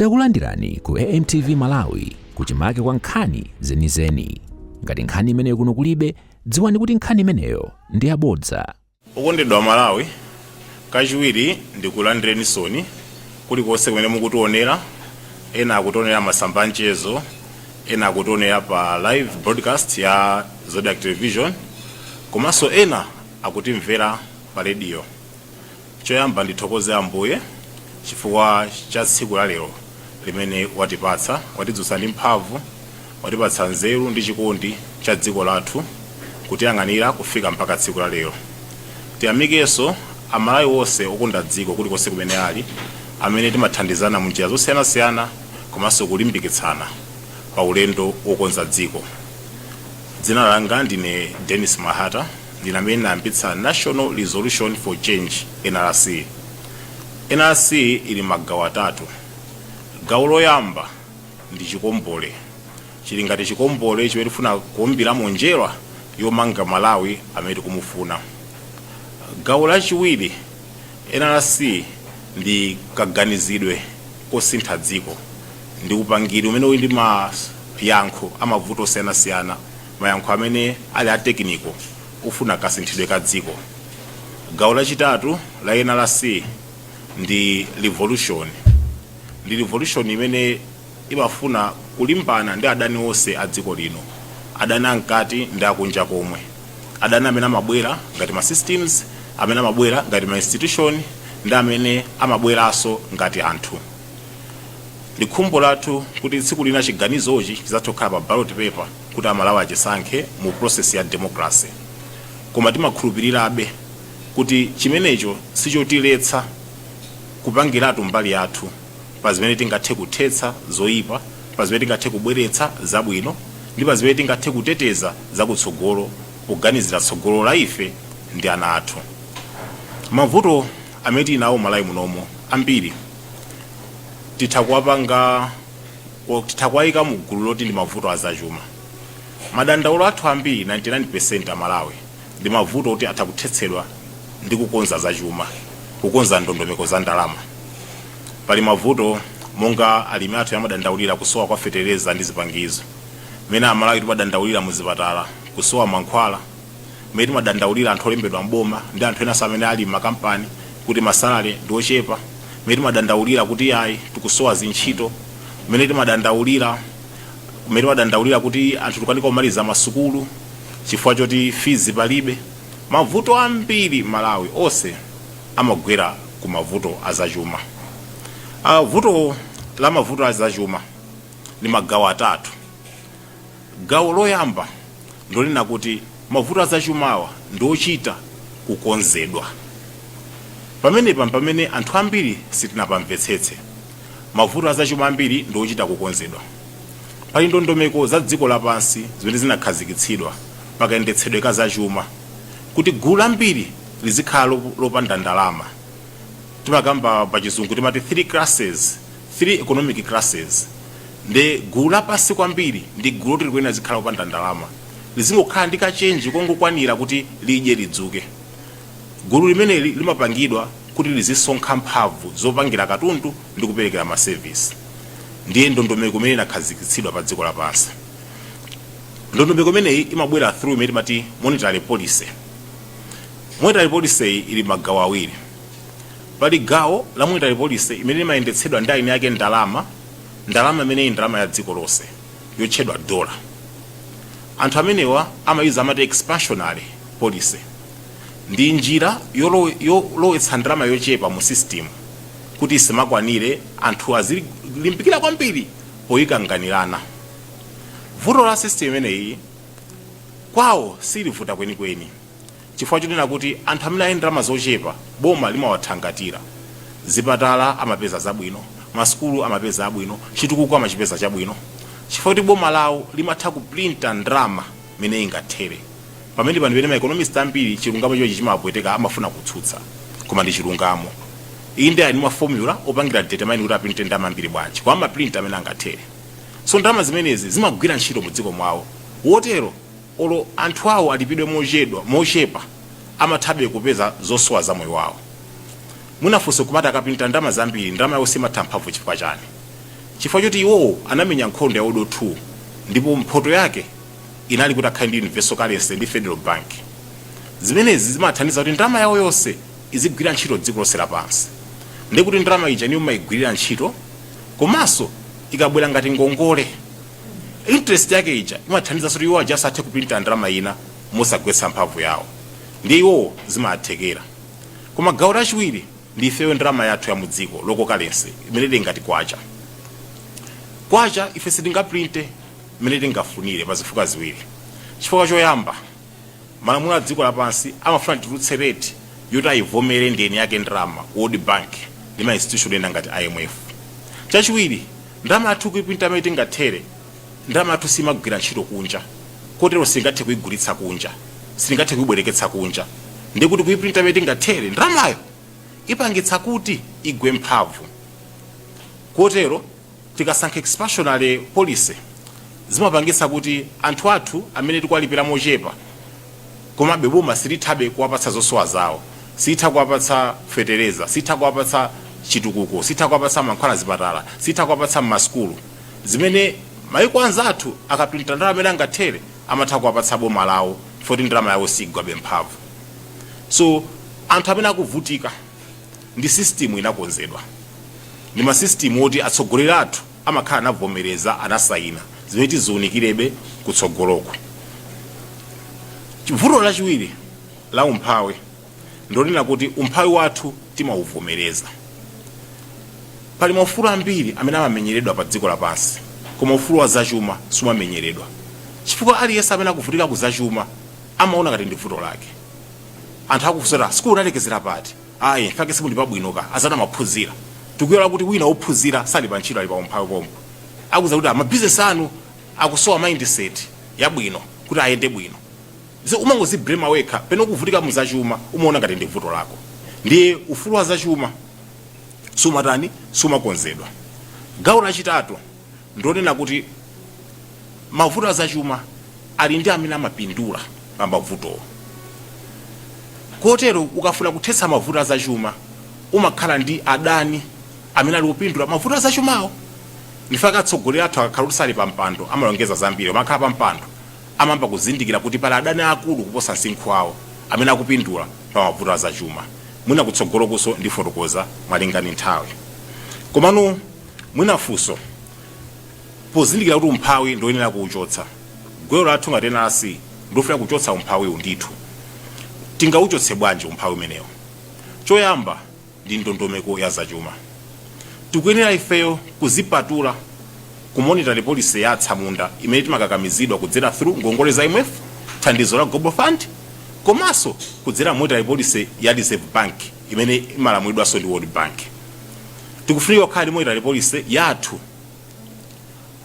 Takulandirani ku AMTV Malawi kuchimake kwa nkhani zenizeni. Ngati nkhani imeneyo kuno kulibe, dziwani kuti nkhani imeneyo ndi yabodza. okondedwa aMalawi kachiwiri ndikulandireninsoni kulikonse kumene mukutionera ena akutionera m'masamba anchezo ena akutionera pa live broadcast ya Zodiak television komanso ena akutimvera pa rediyo Choyamba ndithokoze Ambuye chifukwa cha tsiku la lero limene watipatsa. Watidzutsa ndi mphamvu, watipatsa nzeru ndi chikondi cha dziko lathu kutiyang'anira kufika mpaka tsiku la lero. Tiyamikenso a Malawi onse okonda dziko kulikonse kumene ali amene timathandizana mu njira zosiyanasiyana komanso kulimbikitsana pa ulendo wokonza dziko. Dzina langa ndine Denis Mahata. Ndine amene ndinayambitsa National Resolution for Change, NRC. NRC ili m'magawo atatu. Gawo loyamba ndi chikombole. Chili ngati chikombole chimene tikufuna kuumbiramo njerwa yomanga Malawi amene tikumufuna. Gawo lachiwiri, NRC ndi kaganizidwe kosintha dziko. Ndi upangiri umene uli ndi mayankho a mavuto osiyanasiyana. mayankho amene ali a tekiniko ofuna kasinthidwe ka dziko. Gawo lachitatu la NRC ndi livolushoni. Ndi livolushoni imene imafuna kulimbana ndi adani onse a dziko lino, adani a mkati ndi a kunja komwe, adani amene amabwera ngati ma systems, amene amabwera ngati ma institution, ndi amene amabweranso ngati anthu. Ndi khumbo lathu kuti tsiku lina chiganizochi chidzathe okhala pa ballot paper kuti Amalawi achisankhe mu process ya democracy. Koma timakhulupirirabe kuti chimenecho sichotiletsa kupangiratu mbali yathu pa zimene tingathe kuthetsa zoipa, pa zimene tingathe kubweretsa zabwino, ndi pa zimene tingathe kuteteza zakutsogolo poganizira tsogolo la ife ndi ana athu. Mavuto. amene tili nawo m'Malawi muno ambiri titha kuwapanga or titha kuwayika mu gulu loti ndi mavuto a zachuma. Madandaulo athu ambiri 99% a Malawi ndi mavuto oti atha kuthetsedwa ndi kukonza zachuma, kukonza ndondomeko za ndalama. Pali mavuto monga alimi athu amadandaulira kusowa kwa fetereza ndi zipangizo, mmene a Malawi timadandaulira mu zipatala kusowa mankhwala, mmene timadandaulira anthu olembedwa m'boma ndi anthu enanso amene ali m'makampani kuti masalale ndi ochepa mmene timadandaulira kuti ayi tikusowa zintchito mmene timadandaulira kuti anthu tikukanika kumaliza masukulu chifukwa choti fees palibe mavuto ambiri malawi onse amagwera ku mavuto azachuma uh, vuto la mavuto azachuma lili magawo atatu Gawo loyamba ndilonena kuti mavuto a zachumawa ndi ochita kukonzedwa. Pamenepa mpamene anthu ambiri sitinapamvetsetse. Mavuto a zachuma ambiri ndi ochita kukonzedwa. Pali ndondomeko za dziko lapansi zimene zinakhazikitsidwa pa kayendetsedwe ka zachuma kuti gulu lambiri lizikhala lopanda ndalama. Timakamba pa chizungu timati three classes. 3 economic classes nde gulu lapansi kwambiri ndi gulu loti likuyenera lizikhala lopanda ndalama lizingokhala ndi kachenji kongokwanira kuti lidye lidzuke gulu limeneli limapangidwa kuti lizisonkha mphamvu zopangira katundu ndi kuperekera masevisi ndiye ndondomeko imene inakhazikitsidwa pa dziko lapansi ndondomeko imeneyi imabwera through imene timati monetary policy monetary policy iyi ili magawo awiri Pali gawo la monetary policy imene limayendetsedwa ndi eni ake ndalama, ndalama imene ili ndalama ya dziko lonse yotchedwa dollar. Anthu amenewa amayuza amati expansionary policy. Ndi njira yolowetsa ndalama yochepa mu system kuti isimakwanire anthu azilimbikira kwambiri poyikanganirana. Vuto la system imeneyi kwawo silivuta kwenikweni. chifukwa chonena kuti anthu amene ali ndi ndalama zochepa boma limawathangatira. Zipatala amapeza zabwino, masukulu amapeza abwino, chitukuko amachipeza chabwino chifukwa choti boma lawo limatha kuprinta ndalama mmene ingathere. Pamenepa ndi pamene ma economist ambiri chilungamo chimenechi chimawapweteka, amafuna kutsutsa koma ndi chilungamo. Inde ali ndi ma formula opangira determine kuti aprinte ndalama zambiri bwanji koma amaprinta mmene angathere. So ndalama zimenezi zimagwira ntchito mu dziko mwawo. Potero. Olo anthu awo alipidwe mochedwa, mochepa, amathabe kupeza zosowa za moyo wawo. Mwina funso kumati akaprinta ndalama zambiri, ndalama yawo simatha mphamvu chifukwa chani? Chifukwa choti iwowo anamenya nkhondo ya World War 2 ndipo mphoto yake inali kuti akhale ndi universal currency ndi federal bank. Zimenezi zimawathandiza kuti ndalama yawo yonse izigwira ntchito dziko lonse lapansi. Ndekuti ndalama ija inuyo mumayigwirira ntchito komanso ikabwera ngati ngongole. interest yake ija imathandiza kuti iwo aja asathe kuprinta ndalama ina mosagwetsa mphamvu yawo ndiye iwowo zimathekera koma gawo lachiwiri ndi ifeyo ndalama yathu ya mudziko local currency imene ili ngati kwacha kwacha ife sitingaprinte imene tingafunire pa zifukwa ziwiri chifukwa choyamba malamulo a dziko lapansi amafuna titulutse rate yoti ayivomere ndiyeni yake ndalama world bank ndi ma institution ena ngati imf chachiwiri Ndalama yathu kuiprinta mmene tingathere. Ndalama yathu siimagwira ntchito kunja, kotero sitingathe kuigulitsa kunja, sitingathe kuibwereketsa kunja. Ndiye kuti kuiprinta mmene tingathere, ndalamayo ipangitsa kuti igwe mphamvu. Kotero tikasankha expansionary policy, zimapangitsa kuti anthu athu amene tikuwalipira mochepa, komabe boma silithabe kuwapatsa zosowa zawo, sitha kuwapatsa fetereza, sitha kuwapatsa chitukuko, sitha kuwapatsa mankhwala mzipatala, sitha kuwapatsa mmasukulu, zimene maiko anzathu akaprinta ndalama mene angathere amatha kuwapatsa boma lawo chifukwa choti ndalama yawo sigwabe mphamvu. So anthu amene akuvutika ndi system inakonzedwa ndi ma system oti atsogoleri athu. amakhala anavomereza, anasayina, zimene tiziunikirebe kutsogoloku. Vuto lachiwiri la umphawi ndilonena kuti umphawi wathu timauvomereza. Pali maufulu ambiri amene amamenyeredwa pa dziko lapansi koma ufulu wa zachuma sumamenyeredwa chifukwa aliyense amene akuvutika ku zachuma amaona ngati ndi vuto lake. Anthu akufunsa kuti, ah, sukulu unalekezera pati? ayi nfake simuli pabwino ka anzanu anaphunzira tikuyiwala kuti wina wophunzira sali pa ntchito ali pa umphawi pompo akuuza kuti mabizinesi anu akusowa mindset yabwino kuti ayende bwino so umangoziblema wekha pamene ukuvutika mu zachuma umaona ngati ndi vuto lako ndiye ufulu wa zachuma sumatani sumakonzedwa gawo lachitatu ndonena kuti mavuto azachuma ali ndi amene amapindula pa mavutowo kotero ukafuna kuthetsa mavuto azachuma umakhala ndi adani amene ali opindula mavuto azachumawo ndi nfake atsogoleri athu akakhala kuti sali pa mpando amalongeza zambiri ma akakhala pa mpando amayamba kuzindikira kuti pali adani akulu kuposa msinkhu wawo amene akupindula pa mavuto azachuma mwina kutsogolokuso ndifotokoza malingana ndi nthawi komano Mwina funso, pozindikira kuti umphawi ndioyenera kuuchotsa, gwero lathu ngati NRC ndilofuna kuchotsa umphawiwu ndithu. Tingauchotse bwanji umphawi umenewu? Choyamba ndi ndondomeko ya zachuma. Tikuyenera ifeyo kuzipatula ku monetary policy ya atsamunda imene timakakamizidwa kudzera through ngongole za IMF, thandizo la Global Fund komanso kudzera monetary policy ya Reserve Bank imene imalamulidwanso ndi World Bank. Tikufunika kukhala ndi monetary policy yathu.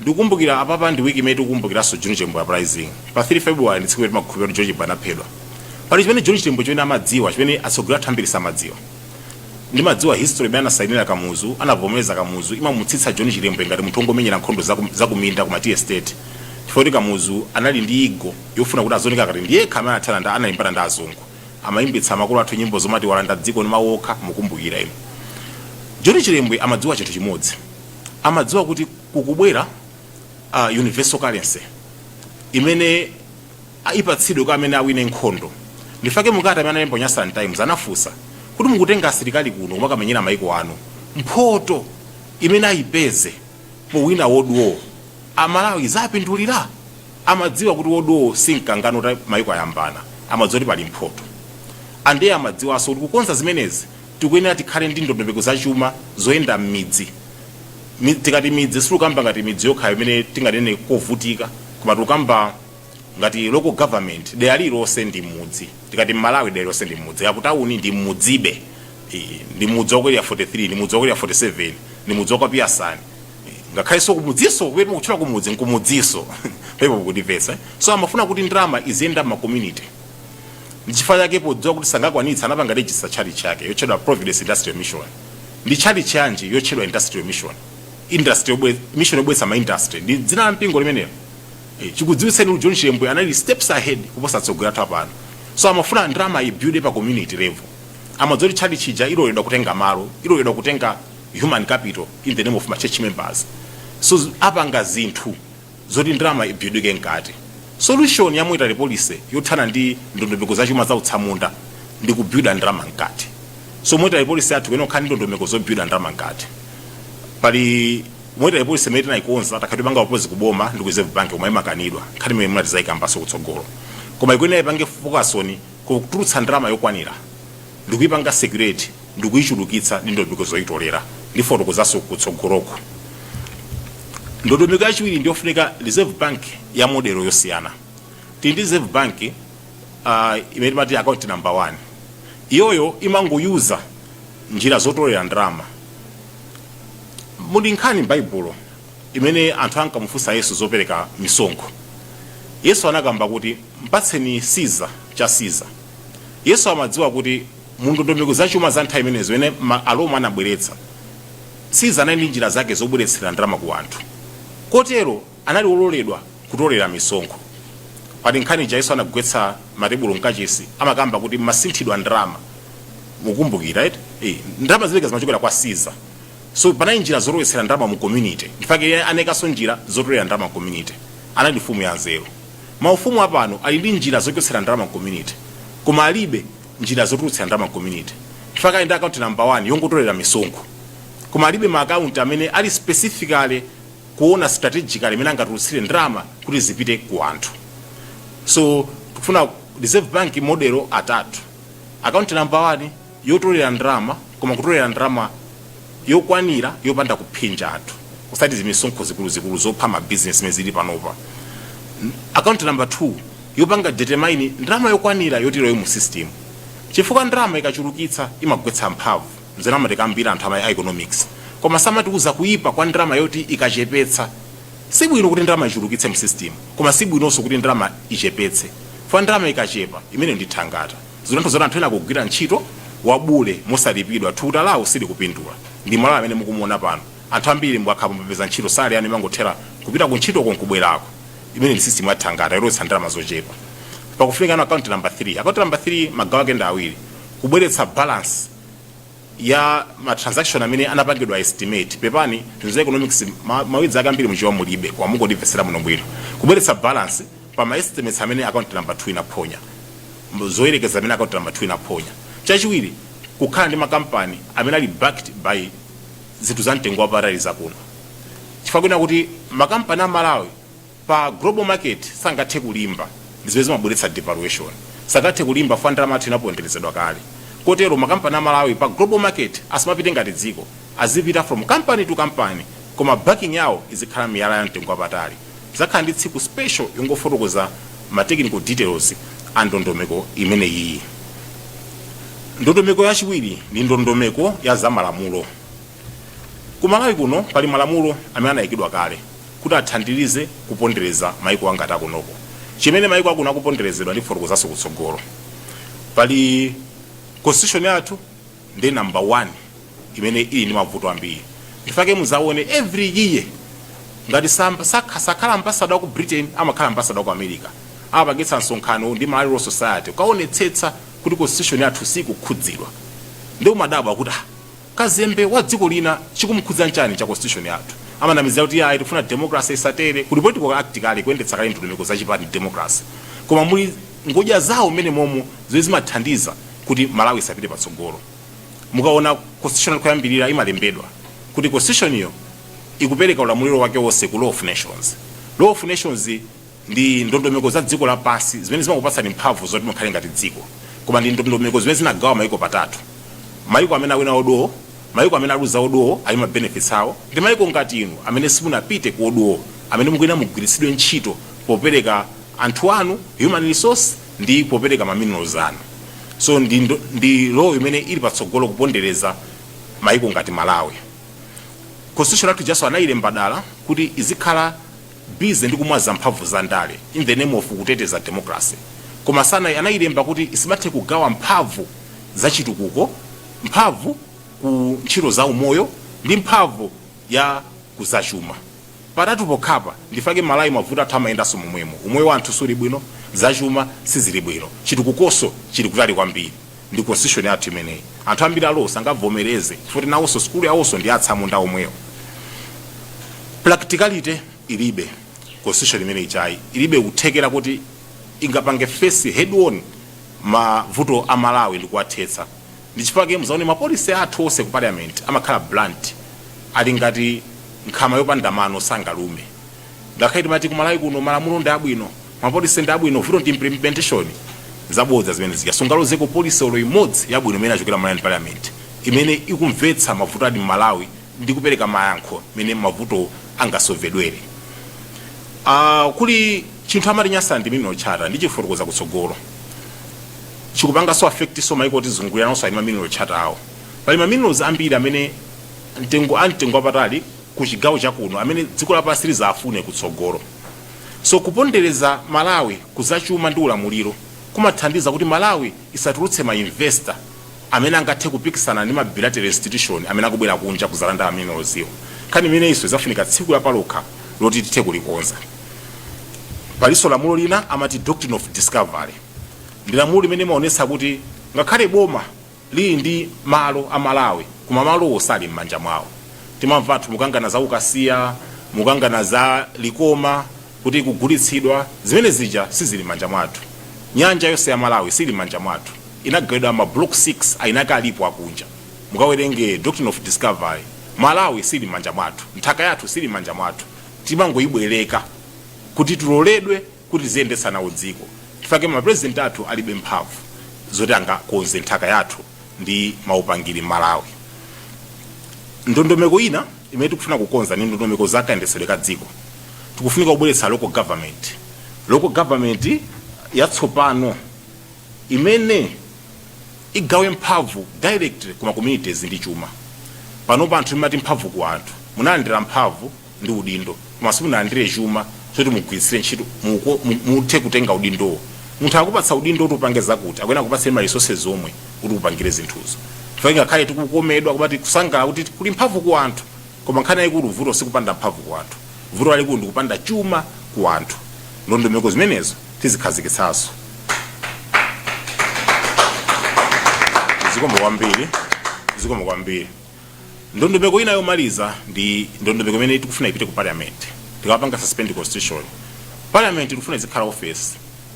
Ndikukumbukira apapa ndi week imene tikukumbukiranso John Chilembwe uprising. Pa 3 February ndi tsiku limene timakhulupirira kuti John Chilembwe anaphedwa. Pali chimene John Chilembwe chimene amadziwa, chimene atsogoleri athu ambiri samadziwa. Ndimadziwa history imene anasainira Kamuzu, anavomereza Kamuzu, imamutsitsa John Chilembwe ngati munthu wongomenyera nkhondo za ku- za kuminda ku ma tea estate. Chifukwa kuti Kamuzu anali ndi ego yofuna kuti azioneka ngati ndi yekha amene anathana ndi analimbana ndi azungu. Amayimbitsa makolo athu nyimbo zomati walanda dziko ndi mawu okha mukumbukira inu. John Chilembwe amadziwa chinthu chimodzi. Amadziwa kuti kukubwera universal currency imene ipatsidwe kwa amene awine nkhondo. Ndifake mu kalata amene analemba ku Nyasaland Times anafunsa kuti mukutenga asilikali kuno kumakamenyera mayiko anu mphoto imene ayipeze powina world war a Malawi izawapindulira? amadziwa kuti world war si mkangano uta maiko ayambana amadziwa kuti pali mphoto and ndiye amadziwaso kuti kukonza zimenezi tikuyenera tikhale ndi ndondomeko za chuma zoyenda mmidzi Mi- tikati midzi sitikukamba ngati midzi yokhayo imene tinganene kovutika koma tikukamba ngati local government dera lililonse ndi mudzi tikati mmalawi dera lililonse ndi mudzi akutawuni ndi mudzibe Eh, ndi mudzi wa ku Area 43 ndi mudzi wa ku Area 47 ndi mudzi wa kwa Piyasani ngakhalenso kumudziso kumene mukutchula kumudzi nkumudziso penepo mukundimvetsa eh? so amafuna kuti ndalama iziyenda ma community ndichifukwa chake podziwa kuti sangakwanitsa anapanga register tchalitchi yake yotchedwa providence industrial mission ndi tchalitchi yanji yotchedwa industrial mission industry yobwe- mission yobweza ma industry ndi dzina la mpingo limenelo Eh, chikudziwitseni kuti john chilembwe anali steps ahead kuposa atsogoleri athu apano so amafuna ndalama ibuilde pa community level amadziwa kuti tchalitchi ija iloledwa kutenga malo iloledwa kutenga human capital in the name of ma church members so apanga zinthu zoti ndalama ibuildike mkati solution ya monetary policy yothana ndi ndondomeko za chuma za utsamunda ndi kubuilda ndalama mkati so monetary policy yathu ikuyenera kukhala ndi ndondomeko zobuilda ndalama mkati pali monetary policy imene tinayikonza takhala tipanga propose kuboma ndi ku reserve bank koma imakanidwa nkhani imene mwina tizayikambaso kutsogolo koma ikuyenera ipange focus on kutulutsa ndalama yokwanira ndikuipanga circulate ndikuichulukitsa ndi ndondomeko zoitolera. Ndifotokozanso kutsogoloko. Ndondomeko yachiwiri ndiyofunika Reserve Bank ya model yosiyana. Tili ndi Reserve Bank ah, imene timati account number 1. Iyoyo imangoyuza njira zotolera ndalama. Muli nkhani m'Baibulo imene anthu ankamufunsa Yesu zopereka misonkho. Yesu anakamba kuti, Mpatseni Siza cha Siza. Yesu amadziwa kuti mu ndondomeko za chuma za nthawi imenezo imene ma Aroma anabweretsa, Siza anali ndi njira zake zobweretsera ndalama ku anthu. Kotero anali wololedwa kutolera misonkho. Pali nkhani ija Yesu anagwetsa matebulo mkachisi, amakamba kuti mmasinthidwa ndalama. Mukumbukira eti? Ndalama zimenezi zimachokera kwa Siza. so panali njira zolowetsera ndalama mu community ndi fake anaikanso njira zotolera ndalama mu community anali mfumu ya nzeru maufumu apano ali ndi njira zochotsera ndalama mu community koma alibe njira zotulutsira ndalama mu community ndi fake ali ndi account number 1 yongotolera misonkho koma alibe ma account amene ali specifically kuona strategically imene angatulutsire ndalama kuti zipite ku anthu so tufuna reserve bank modelo atatu account number 1 yotolera ndalama koma kutolera ndalama yokwanira yopanda kuphinja anthu osati zimisonkho zikuluzikulu zopha ma business zimene zili panopa N- account number 2 yopanga determine ndalama yokwanira yoti ilowe mu system chifukwa ndalama ikachulukitsa imagwetsa mphamvu nzimene amatikambira anthu ama economics koma samatiuza kuipa kwa ndalama yoti ikachepetsa si bwino kuti ndalama ichulukitse mu system koma si bwinonso kuti ndalama ichepetse fa ndalama ikachepa imeneyo ndi thangata Zinthu zoti anthu ena akugwira ntchito wabule mosalipidwa, thukuta lawo silikupindula. Ndi Malawi amene mukumuona pano. Anthu ambiri mukakhala kuti mwapeza ntchito salary yanu imangothera kupita ku ntchitoko nkubwerako. Imeneyi ndi system ya thangata yolowetsa ndalama zochepa. Pakufunika na account number 3. Account number 3 magawo ake ndi awiri. Kubweretsa balance. ya ma transaction amene anapangidwa estimate pepani zinthu za economics mawedzi ake ambiri mu Chichewa mulibe koma mungondimvetsera muno bwino kubweretsa balance pa ma estimates amene account number 2 inaphonya zoyerekeza amene account number 2 inaphonya chachiwiri kukhala ndi makampani amene ali backed by zinthu za mtengo wapatali zakuno chifukwa chake nchakuti makampani a malawi pa global market sangathe kulimba ndi zimene zimabweretsa devaluation sangathe kulimba chifukwa ndalama yathu inaponderezedwa kale kotero makampani a Malawi pa global market asamapite ngati dziko azipita from company to company koma backing yawo izikhala miyala ya mtengo wapatali tidzakhala ndi tsiku special yongofotokoza ma technical details a ndondomeko imene iyi. Ndondomeko yachiwiri ndi ndondomeko ya zamalamulo. Ku Malawi kuno pali malamulo amene anaikidwa kale kuti athandirize kupondereza maiko angati akunoko. Chimene maiko akuno akuponderezedwa ndifotokozanso kutsogolo. Pali constitution yathu ndiye number one imene ili ndi mavuto ambiri. Ndi fake muzaone every year ngati sam, sak, sakhala ambassador wa ku Britain amakhala ambassador wa ku America amapangitsa msonkhano ndi Malawi Law Society kukaonetsetsa kuti constitution yathu isakhudzidwe. Ndiye umadabwa kuti ah, kazembe wa dziko lina chikumukhudza nchani cha constitution yathu amanamizira kuti ayi tikufuna democracy isathe kuli political act kale kuyendetsa kale ndondomeko za chipani ndi democracy koma muli ngodya zawo mmenemomo zimene zimathandiza kuti malawi isapite patsogolo mukaona constitution yathu koyambirira imalembedwa kuti constitution yo ikupereka ulamuliro wake wonse ku law of nations law of nations ndi ndondomeko za dziko lapansi zimene zimakupatsani mphamvu zoti mukhale ngati dziko koma ndi ndondomeko zimene zinagawa mayiko patatu mayiko amene awina world war mayiko amene aluza world war ali ma benefits awo ndi mayiko ngati inu amene simunapite ku world war amene mukuyenera mugwiritsidwe ntchito popereka anthu anu human resource ndi popereka ma minerals anu so ndi law imene ili patsogolo kupondereza mayiko ngati malawi constitution yathu ijaso anayilemba dala kuti izikhala busy ndi kumwaza mphamvu za ndale in the name of kuteteza democracy koma sana anailemba kuti isamathe kugawa mphamvu za chitukuko mphamvu ku ntchito za umoyo ndi mphamvu ya kuzachuma patatu pokhapa ndifake malawi mavuto athu amayendanso momwemo umoyo wa anthu suli bwino zachuma sizili bwino chitukukoso chili kutali kwambiri ndi constitution yathu imeneyi anthu ambiri a law sangavomereze futi nawonso sukulu yawonso ndi ya atsamunda omwewo practicality ilibe constitution imene ijayi ilibe kuthekera kuti ingapange face head on mavuto a malawi ndi kuwathetsa ndi chifukwa chake muzaone ma policy athu onse ku parliament amakhala blunt ali ngati nkhama yopanda mano sangalume ngakhale timati kumalawi kuno malamulo ndi abwino ma policy ndi abwino vuto ndi implementation zabodza zimene zija sungalozeko policy olo imodzi yabwino imene yachokera malawi parliament imene ikumvetsa mavuto ali mmalawi ndi kupereka mayankho mmene mavuto angasovedwere Ah, kuli chinthu amati nyasaland mineral charter ndichifotokoza kutsogolo chikupangaso affect so maiko otizungulira nawonso ali ma mineral charter awo pali maminerals ambiri amene mtengo a mtengo wapatali kuchigawo chakuno amene dziko lapansi lizawafune kutsogolo. So kupondereza Malawi ku za chuma ndi ulamuliro kumathandiza kuti Malawi isatulutse ma investor amene angathe kupikisana ndi ma bilateral institution amene akubwera kunja kuzalanda ma minerals wo. Nkhani imeneyinso izafunika tsiku lapalokha loti tithe kulikonza. Palinso lamulo lina amati Doctrine of Discovery. Ndi lamulo limene limaonetsa kuti ngakhale boma lili ndi malo a Malawi koma malowo sali mmanja mwawo. Timamva anthu mukangana za ku Kasiya, mukangana za Likoma kuti ikugulitsidwa. Zimene zija sizili mmanja mwathu. Nyanja yonse ya Malawi siili mmanja mwathu. Inagawidwa ma block 6 eniake alipo akunja. Mukawerenge Doctrine of Discovery. Malawi siili mmanja mwathu. Nthaka yathu siili mmanja mwathu. Timangoibwereka kuti tiloledwe. kuti tiziyendetsa nawo dziko chifukwa chake ma president athu alibe mphamvu zoti angakonze nthaka yathu ndi maupangiri mMalawi ndondomeko ina imene tikufuna kukonza ndi ndondomeko za kayendetsedwe ka dziko tikufunika kubweretsa local government local government yatsopano imene igawe mphamvu directly kuma communities ndi chuma panopa anthu timati mphamvu ku anthu munalandira mphamvu ndi udindo koma simunalandire chuma choti mugwiritsire ntchito muthe kutenga udindowo munthu akupatsa udindo kuti upange zakuti akuyenera kupatsa ma resources omwe kuti upangire zinthuzo chifukwa ngakhale tikukomedwa kumati kusangala kuti kuli mphamvu ku anthu koma nkhani yayikulu vuto sikupanda mphamvu ku anthu vuto lalikulu ndikupanda chuma ku anthu ndondomeko zimenezo tizikhazikitsanso zikomo kwambiri ndondomeko ina yomaliza ndi ndondomeko imene tikufuna ipite ku parliament tikapanga suspend constitution parliament tikufuna izikhala office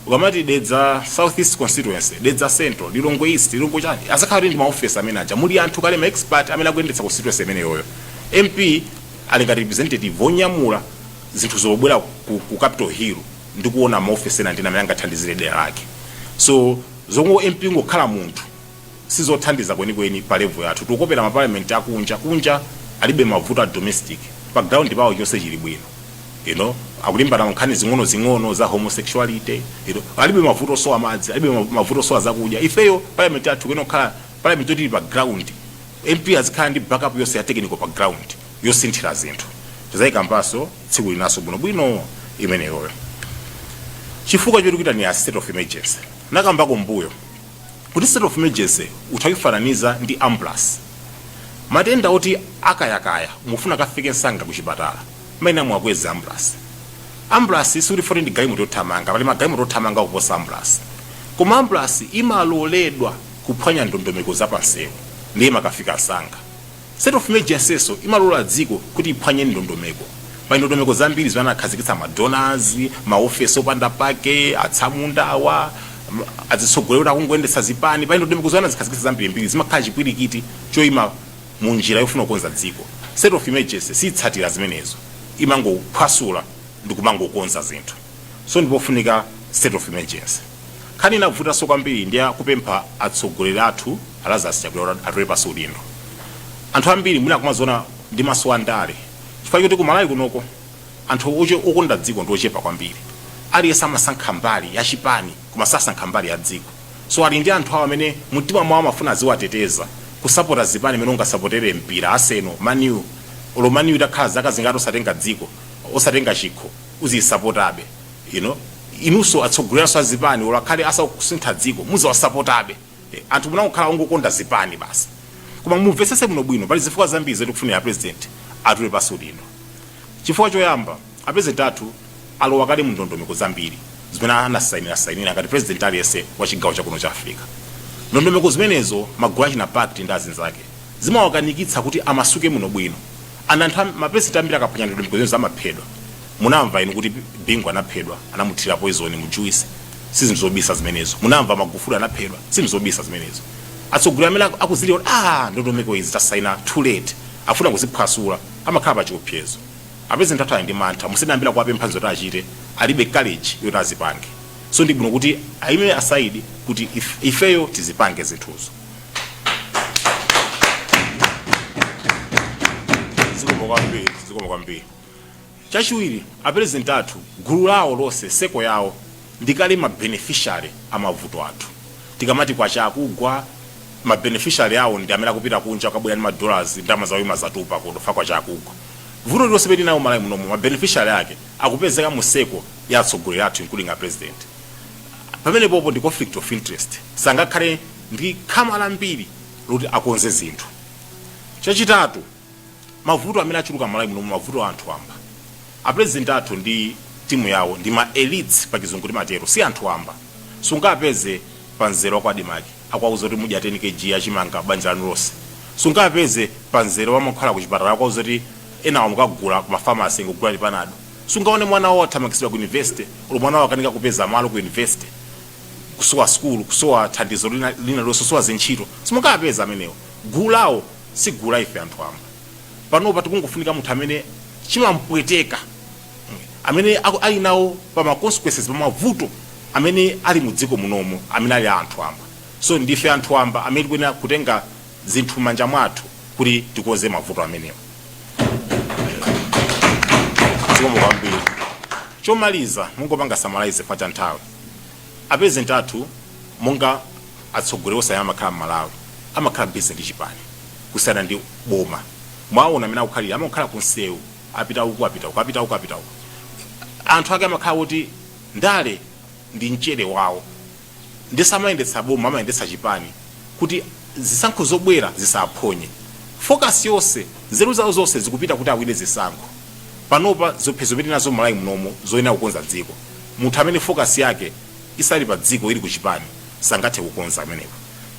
ukamati dedza south east constituency dedza central lilongwe east lilongwe chani azakhala ndi maoffice amene aja muli anthu kale ma expert amene akuyendetsa constituency imeneyoyo mp ali ngati representative wonyamula zinthu zobwera ku, ku capital hill ndi kuona maoffice ena ndina amene angathandizire dera lake so zoti mp ngokhala munthu sizothandiza kwenikweni pa level yathu tikukopera ma parliament akunja kunja alibe mavuto a domestic pa ground pawo chonse chili bwino you know akulimbana ndi nkhani zing'onozing'ono za homosexuality you know alibe mavuto osowa madzi alibe mavuto osowa zakudya ifeyo parliament yathu kuyenera kukhala parliament yoti ili pa ground mp azikhala ndi backup yonse ya technical pa ground yosinthira zinthu tizayikambanso tsiku linanso bwinobwino imeneyoyo chifukwa choti kuita ni a state of emergency nakambako mbuyo kuti state of emergency utha kuifananiza ndi ambulasi matenda oti akayakaya mufuna akafike msanga kuchipatala mayena muwakweze ambulasi ambulasi sikuti foti ndi galimoto yothamanga pali magalimoto othamanga kuposa ambulasi koma ambulasi imaloledwa kuphwanya ndondomeko zapansewu ndiye imakafika msanga State of Emergency'so imalola dziko kuti iphwanye ndondomeko. Pali ndondomeko zambiri zimene anakhazikitsa ma donors, ma office opanda pake, atsamunda awa, adzitsogoleri oti akungoyendetsa zipani. Pali ndondomeko zimene anazikhazikitsa zambirimbiri zimakhala chipwirikiti choima mu njira yofuna kukonza dziko. State of Emergency siitsatira zimenezo, imangophwasula ndikumangokonza zinthu. So ndipofunika State of Emergency. Nkhani inavutaso kwambiri ndi ya kupempha atsogoleri athu a Lazarus Chakwera kuti atule pansi udindo. Anthu ambiri mwina akumaziona ndi maso a ndale chifukwa choti ku Malawi kunoko anthu okonda dziko ndi ochepa kwambiri. Aliyense amasankha mbali ya chipani koma sasankha mbali ya dziko. So ali ndi anthu awo amene mu mtima mwawo amafuna aziwateteza, kusapota zipani mene ungasapotere mpira, Arsenal, Man U. Olo Man U itakhala zaka zingati osatenga dziko, osatenga chikho, uziyisapotabe. you know inuso atsogoleraso azipani olo akhale asakusintha dziko muziwasapotabe eh, anthu mumangokhala ongokonda zipani basi koma mumvetsese bwino bwino pali zifukwa zambiri zoti kufunira president atule pasi udindo chifukwa choyamba apresident athu alowa kale mu ndondomeko zambiri zimene anasainira sainira ngati president aliyense wa chigawo chakuno cha africa ndondomeko zimenezo magulu achina pact ndi azinzake zimawakanikitsa kuti amasuke bwino bwino ana anthu am- mapresident ambiri akaphwanya ndondomeko zimenezo amaphedwa munamva inu kuti bingu anaphedwa anamuthira poison mu juice sizinthu zobisa zimenezo munamva magufuli anaphedwa sizinthu zobisa zimenezo atsogoleri amene aku- akuziliwa ah ndondomeko izi tasaina too late afuna kuziphwasula amakhala pa chiopsezo apresident athu ali ndi mantha musanayambe kuwapempha zoti achite alibe courage yoti azipange so ndi bwino kuti ayime aside kuti if- ifeyo tizipange zinthuzo zikomo kwambiri zikomo kwambiri Chachiwiri, a President athu, gulu lawo lonse, circle yawo, ndi kale ma beneficiary a mavuto athu. Tikamati Kwacha ikugwa, ma beneficiary awo ndi amene akupita kunja kukabwera ndi ma dollars, ndalama zawo zimadzatupa kuno chifukwa Kwacha ikugwa. Vuto lililonse limene tili nalo Malawi munomu, ma beneficiary ake akupezeka mu circle ya atsogoleri athu including a President. Pamenepopo ndi conflict of interest. Sangakhale ndi khama lambiri loti akonze zinthu. Chachitatu. mavuto amene achuluka malawi muno mavuto a anthu wamba apresident athu ndi timu yawo ndi ma elites pa chizungu timatero si anthu wamba sungawapeze pa mzere wa ku ADMARC akuwauza kuti muzidya 10 kg yachimanga banja lanu lonse sungawapeze pa mzere wa mankhwala kuchipatala akuwauza kuti enawa mukagule ku ma pharmacy ngogula ili panado sungaone mwana wawo athamangitsidwa ku university olo mwana wawo akanika kupeza malo ku university kusowa skulu kusowa thandizo lina lililonse kusowa zintchito simungawapeze amenewo gulu lawo si gulu la ife anthu wamba panopa tikungofunika munthu amene chimampweteka amene aku- ali nawo pa ma consequences pa mavuto amene ali mu dziko munomu amene ali a anthu wamba so ndife anthu wamba amene tikuyenera kutenga zinthu m'manja mwathu kuti tikonze mavuto amenewa zikomo kwambiri chomaliza mungopanga summarize chifukwa cha nthawi A President athu monga atsogoleri onse amene amakhala m'Malawi, amakhala busy ndi chipani kusiyana ndi boma. Mwawona m'mene akukhalira, amangokhala ku nsewu, apita uku apita uku, apita uku apita uku. Anthu ake amakhala oti ndale ndi mchere wawo ndiye samayendetsa boma, amayendetsa chipani kuti zisankho zobwera zisawaphonye. Focus yonse, nzeru zawo zonse zikupita kuti awine zisankho. Panopa ziopsezo zimene tili nazo m'Malawi munomu zoyenera kukonza dziko. Munthu amene focus yake isali pa dziko ili ku chipani sangathe kukonza pamenepo.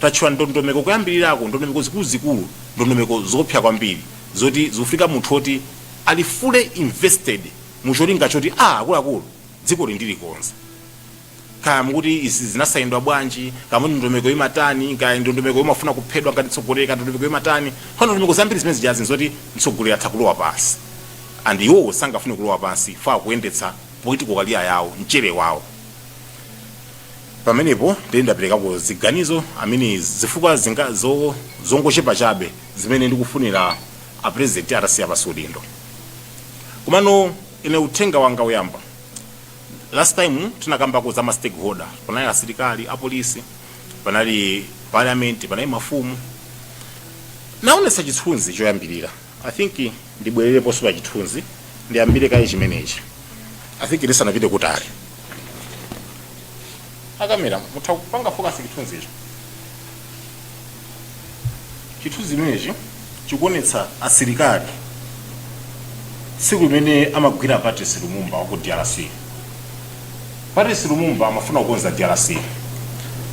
Tatchula ndondomeko kuyambilirako ndondomeko zikuluzikulu ndondomeko zoopsa kwambiri zoti zikufunika munthu oti ali fully invested mu cholinga choti aah akuluakulu dzikoli ndilikonza. Kaya mukuti izi zinasainidwa bwanji, kaya mukuti ndondomeko imatani, kaya ndondomeko imafuna kuphedwa ngati mtsogoleri kaya ndondomeko imatani. Koma ndondomeko zambiri zimene zijazi nzoti mtsogoleri atha kulowa pansi and iwowo sangafune kulowa pansi chifukwa akuyendetsa. Political career yawo, mchele wawo. Pamenepo ndiye ndaperekako ziganizo, I mean zifukwa zongochepa chabe zimene ndikufunira a President atasiya pansi udindo. Komano ine uthenga wanga oyamba, last time tinakambako za ma stakeholder, panali asilikali, apolisi, panali Parliament, panali mafumu. Naonetsa chithunzi choyambirira. I think ndibwerereponso pa chithunzi ndiyambire kaye chimenechi I think ndisanapite kutali akamera mutha kupanga focus chithunzicho chithunzi chimenechi chikuonetsa asilikali tsiku limene amagwira Patrice Lumumba wa ku DRC Patrice Lumumba amafuna kukonza drc.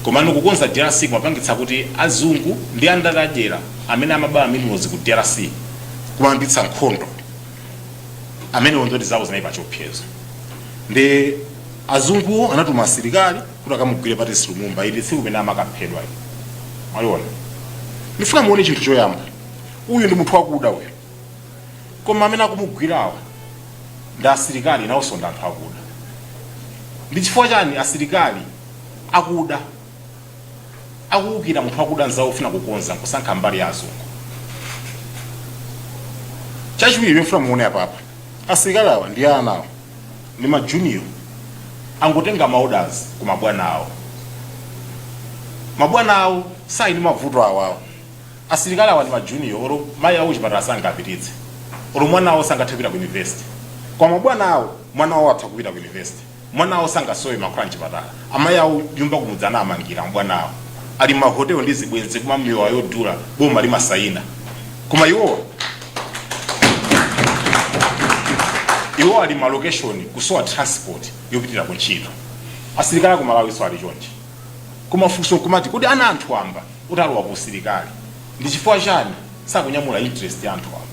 Komano kukonza drc kumapangitsa kuti azungu ndi andale adyera amene amaba minerals ku drc kumayambitsa nkhondo. Amenewo ndi oti zawo zinali pachiopsezo. Ndi azunguwo anatuma asilikali kuti akamugwire Patrice Lumumba. Ili tsiku limene amakaphedwa ili. Mwaliona? Ndifuna muone chinthu choyamba. Uyu ndi munthu wakuda uyu. koma amene akumugwirawa ndi asilikali nawonso ndi anthu akuda ndi chifukwa chani asilikali akuda akuwukira munthu wakuda nzawo ofuna kukonza nkusankha mbali ya azungu chachiwiri ndifuna muone apapa asilikali awa ndi ana awa ndi majunior angotenga ma orders ku mabwana awo mabwana awo sali ndi mavuto awawo Asilikali awa ndi ma junior olo mayi awo kuchipatala sangapititse olo mwana wawo sangathe kupita ku university koma mabwana awo mwana wawo atha kupita ku university mwana wawo sangasowe mankhwala mchipatala amayi awo nyumba kumudzi anamangira mabwana awo ali m'ma hotel ndi zibwenzi kumwa mowa wodula boma limasayina koma iwowa iwo ali m'ma location kusowa transport yopitira ku ntchito asilikali aku Malawinso ali chonchi Koma funso nkumati kodi ana a anthu amba oti alowa ku usilikali ndi chifukwa chani sakunyamula interest ya anthu wamba?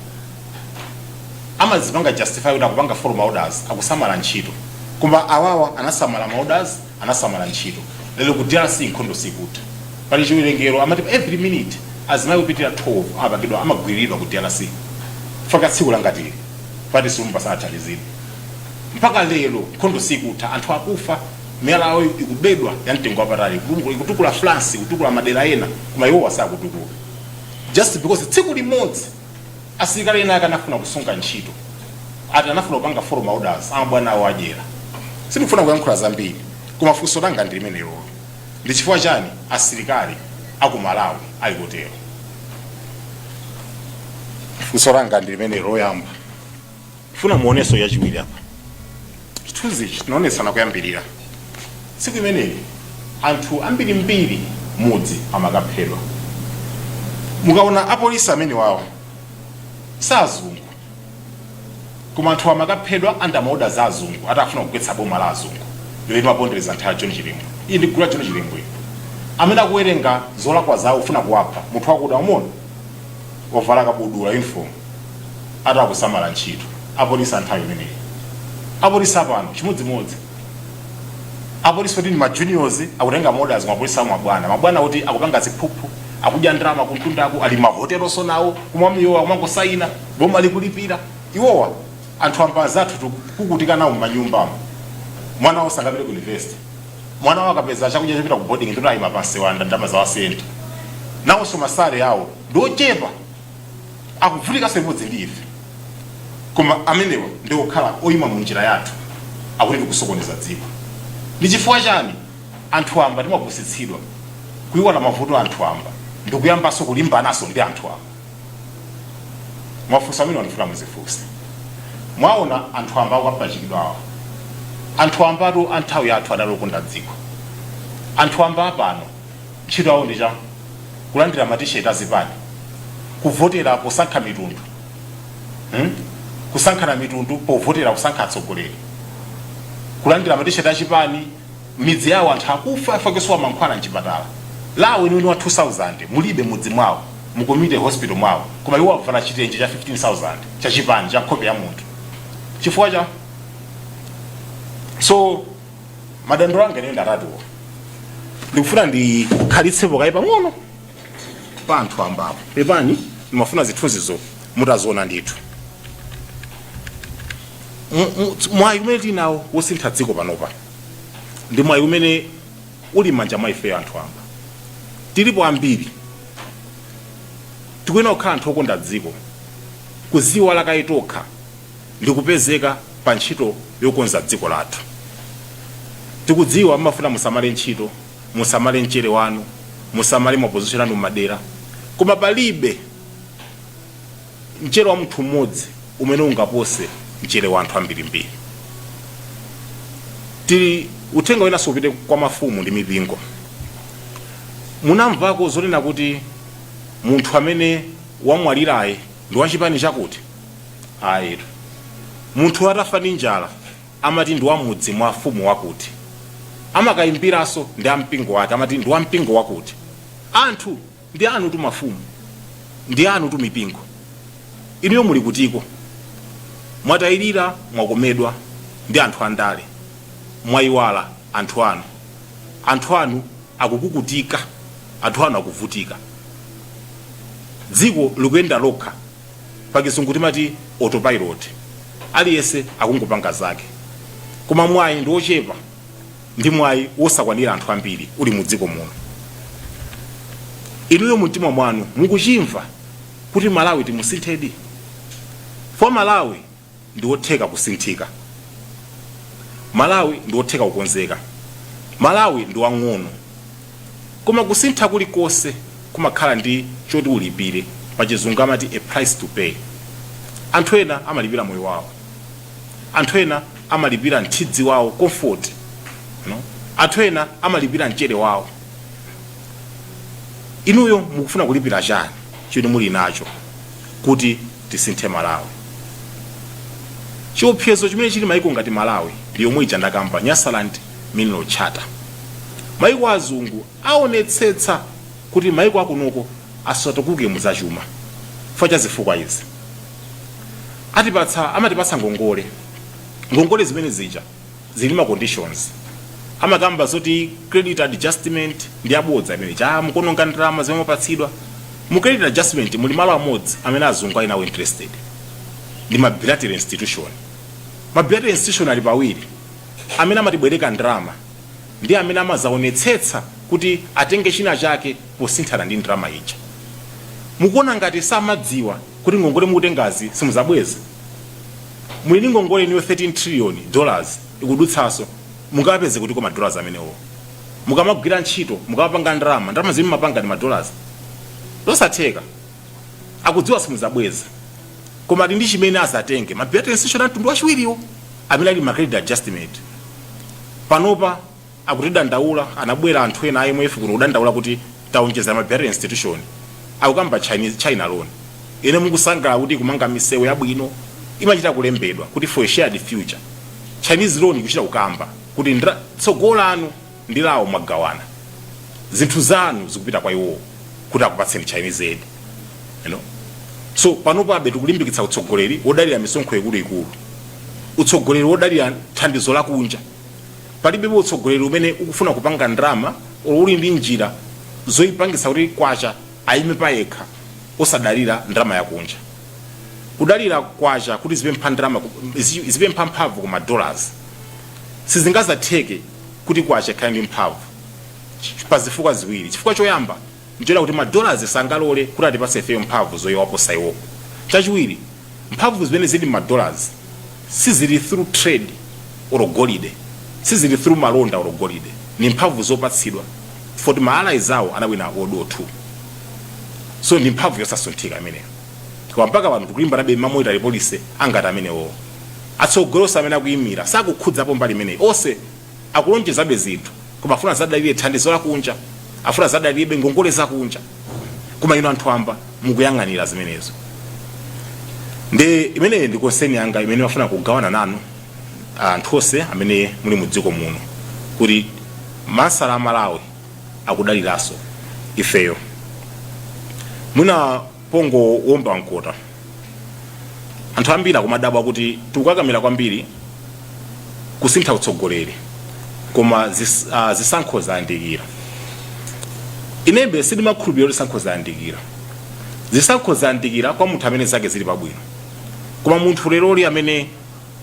Amazipanga justify kuti akupanga follow ma orders, akusamala ntchito. Koma awawa anasamala ma orders, anasamala ntchito. Lero ku DRC nkhondo sikutha. Pali chiwerengero amati pa every minute azimayi opitirira 12 amapangidwa, amagwiriridwa ku DRC. Chifukwa tsiku langati ili, Patrice Lumumba sanathandizidwe. Mpaka lero nkhondo sikutha, anthu akufa. miyala yawo ikubedwa ya mtengo wapatali Iku- ikutukula France ikutukula madera ena koma iwowa sakutukula just because tsiku limodzi asilikali ena ake anafuna kusunga ntchito ati anafuna kupanga follow ma orders amabwana awo adyera sindikufuna kuyankhula zambiri koma funso langa ndi limenelo ndi chifukwa chani asilikali aku Malawi ali kutero funso langa ndi limenelo loyamba funa muonenso yachiwiri apa chithunzi ichi tinaonesana kuyambirira tsiku imeneyi anthu ambirimbiri mudzi amakaphedwa mukaona apolisi amene awa si azungu koma anthu amakaphedwa under ma orders a azungu atafuna kugwetsa boma la azungu limapondereza nthawi John Chilembwe iyi ndi gulu la John Chilembwe amene akuwerenga zolakwa zawo ufuna kuwapha munthu wakuda umona wavala kabudula uniform ati akusamala ntchito apolisi anthawi imeneyi apolisi apano chimodzimodzi apolisi kuti ndi ma juniors akutenga ma orders mapolisi awo mabwana mabwana kuti akupanga ziphuphu akudya ndalama kumtundako ali mahotelonso nawo kumwa mowa kumangosayina boma likulipira iwowa anthu amba anzathu tikuvutika nawo m'manyumbamo mwana wawo sangapite ku university mwana wao akapeza chakudya chopita ku boarding ndikuti ayima pansewu alanda ndalama za ma cent nawonso ma salary awo ndi ochepa akuvutikanso limodzi ndi ife koma amenewa ndi omwe akhala oyima mu njira yathu akuti tikusokoneza dziko ndi chifukwa chani anthu amba timapusitsidwa kuiwala mavuto a anthu amba ndikuyambanso kulimbananso ndi anthu amba mafunso amene ndifuna mudzifunse mwaona anthu amba akapachikidwa awa anthu ambatu a nthawi yathu anali okonda dziko anthu amba apano ntchito yawo ndi chani kulandira matisheti azipani kuvotera posankha mitundu hmm? kusankhana mitundu povotera kusankha atsogoleri kulandira matisheti achipani midzi yawo anthu akufa chifukwa chosowa mankhwala mchipatala LA weniweni wa 2000 mulibe mudzi mwao mu community hospital mwao koma iwo avala chitenje cha 15000 cha chipani cha nkhope ya munthu chifukwa cha so madandaulo anga ndi atatuwo ndikufuna ndikhalitsepo kaye pang'ono pa anthu ambapo pepani ndimafuna zithunzizo mutaziona ndithu mu- mu- mwayi umene tinawo wosintha dziko panopa ndi mwayi umene uli m'manja mwa ifeyo anthu amba tilipo ambiri tikuyenera kukhala anthu okonda dziko kuziwalaka ifetokha ndi kupezeka pa ntchito yokonza dziko lathu tikudziwa mmafuna musamale ntchito musamale mchere wanu musamale mapozishoni anu m'madera koma palibe Mchere wa munthu mmodzi umene ungapose mchere wa anthu ambirimbiri. Tili, uthenga winanso upite kwa mafumu ndi mipingo. Munamvako zonena kuti munthu amene wamwalirayi ndi wa chipani chakuti? Ayitu. Munthu atafa ndi njala amati ndi wa mudzi mwa mfumu wakuti. Amakayimbiranso ndi a mpingo wake amati ndi wa mpingo wakuti. Anthu! Ndi anutu mafumu, ndi anutu mipingo. Inuyo muli kutiko? Mwatayirira, mwakomedwa ndi anthu a ndale, mwayiwala anthu anu. Anthu anu akukukutika, anthu anu akuvutika. Dziko likuyenda lokha, pa kizungu timati autopilot, aliyense akungopanga zake. Koma mwayi ndi ochepa. ndi mwayi wosakwanira anthu ambiri uli mu dziko muno inuyo mumtima mwanu mukuchimva kuti malawi timusinthedi for malawi ndi wotheka kusinthika malawi ndi wotheka kukonzeka malawi ndi wang'ono koma kusintha kulikonse kumakhala ndi choti ulipire pachizungu amati a price to pay anthu ena amalipira moyo wawo anthu ena amalipira mthunzi wawo comfort anthu ena amalipira mchere wawo inuyo mukufuna kulipira chani choti muli nacho kuti tisinthe malawi chiopsezo chimene chili maiko ngati malawi ndi yomwe ija ndakamba nyasaland mineral charter maiko azungu aonetsetsa kuti maiko akunoko asatukuke mu za chuma chifukwa cha zifukwa izi, amatipatsa ngongole, ngongole zimene zija zili ndi ma conditions, amakamba zoti credit adjustment ndi ya bodza imene ija, ah mukuononga ndalama zimene mwapatsidwa, mu credit adjustment muli malo amodzi amene azungu ali nawo interested ndi ma bilateral institution, ma bilateral institution ali pawiri amene amatibwereka ndalama ndi amene amadzaonetsetsa kuti atenge china chake posinthana ndi ndalama ija. Mukuona ngati samadziwa kuti ngongole mukutengazi simudzabweza? Muli ndi ngongole inuyo 13 trillion dollars ikudutsanso, mungapeze kutiko ma dollars amenewo? Mukamagwira ntchito, mukamapanga ndalama, ndalama zimene mumapanga ndi ma dollars? Zosatheka. akudziwa simudzabweza koma ali ndi chimene azatenge ma bilateral institution a mtundu wachiwiriwo amene ali ma credit adjustment panopa akutidandaula anabwera anthu ena a imf kuno kudandaula kuti taonjeza ma bilateral institution akukamba Chinese- china loan ine mukusangalala kuti ikumanga misewu yabwino imachita kulembedwa kuti for a shared future chinese loan ikuchita kukamba kuti ndra- tsogolo lanu ndi lawo mwagawana zinthu zanu zikupita kwa iwowo kuti akupatseni Chinese aid so panopabe tikulimbikitsa utsogoleri wodalira misonkho ikuluikulu utsogoleri wodalira thandizo lakunja palibepo utsogoleri umene ukufuna kupanga ndalama or uli ndi njira zoyipangitsa kuti kwacha ayime payekha osadalira ndalama yakunja kudalira kwacha kuti zipempha ndalama ku- zi- zipempha mphamvu ku madollars sizingazatheke kuti kwacha ikhale ndi mphamvu ch- pa zifukwa ziwiri chifukwa choyamba ndichonena kuti madollars sangalole kuti atipase ifeyo mphamvu zowaposa iwowo chachiwiri mphamvu zimene zili madollars sizili through trade or golide sizili through malonda or golide ni mphamvu zopatsidwa foti ma allies awo anawina world war 2 so ndi mphamvu yosasunthika imeneyo koma mpaka pano tikulimbanabe ma monetary policy angati amenewowo atsogoleri onse amene akuyimira sakukhudzapo mbali imeneyi ose akulonjezabe zinthu koma afuna azadalire thandizo lakunja afuna azadalirebe ngongole zakunja koma inu anthu amba mukuyang'anira zimenezo ndi imeneyi ndi concern yanga imene mafuna kugawana nanu anthu ose amene muli mu dziko muno kuti masala a malawi akudaliranso ifeyo mwina pongowomba mkota anthu ambiri akumadabwa kuti tikukakamira kwambiri kusintha utsogoleri koma zis, uh, zisankho zayandikira inembe sindimakhulupirira kuti zisankho zayandikira zisankho zayandikira kwa munthu amene zake zili pabwino koma munthu leroli amene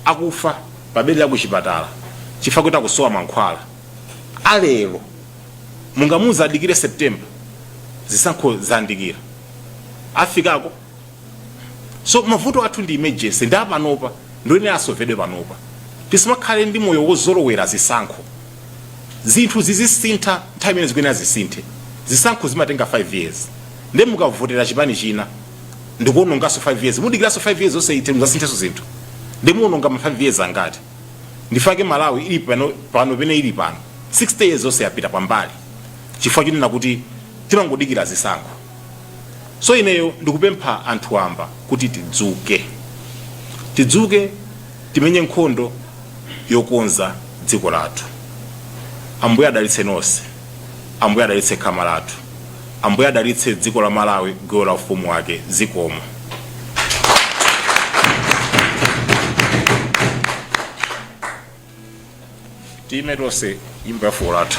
akufa pabedi la kuchipatala chifukwa kuti akusowa mankhwala alero mungamuuze adikire september zisankho zayandikira afikako so mavuto athu ndi emergency ndi apanopa ndi oyenera asovedwe panopa tisamakhale ndi moyo wozolowera zisankho zinthu zizisintha nthawi imene zikuyenera zisinthe zisankho zimatenga 5 years nde mukavotera chipani china ndikuononganso 5 years mudikiranso 5 years zonse ithe muzasintheso zinthu nde muononga ma 5 years angati ndifake malawi ili pano pene ili pano 60 years onse yapita pambali chifukwa chonena kuti timangodikira zisankho so ineyo ndikupempha anthu amba kuti tidzuke tidzuke timenye nkhondo yokonza dziko lathu ambuye adalitse nonse Ambuye adalitse khama lathu. Ambuye adalitse dziko la Malawi, gawo la ufumu wake. Zikomo. Tiime tonse nyimbo ya fuko lathu.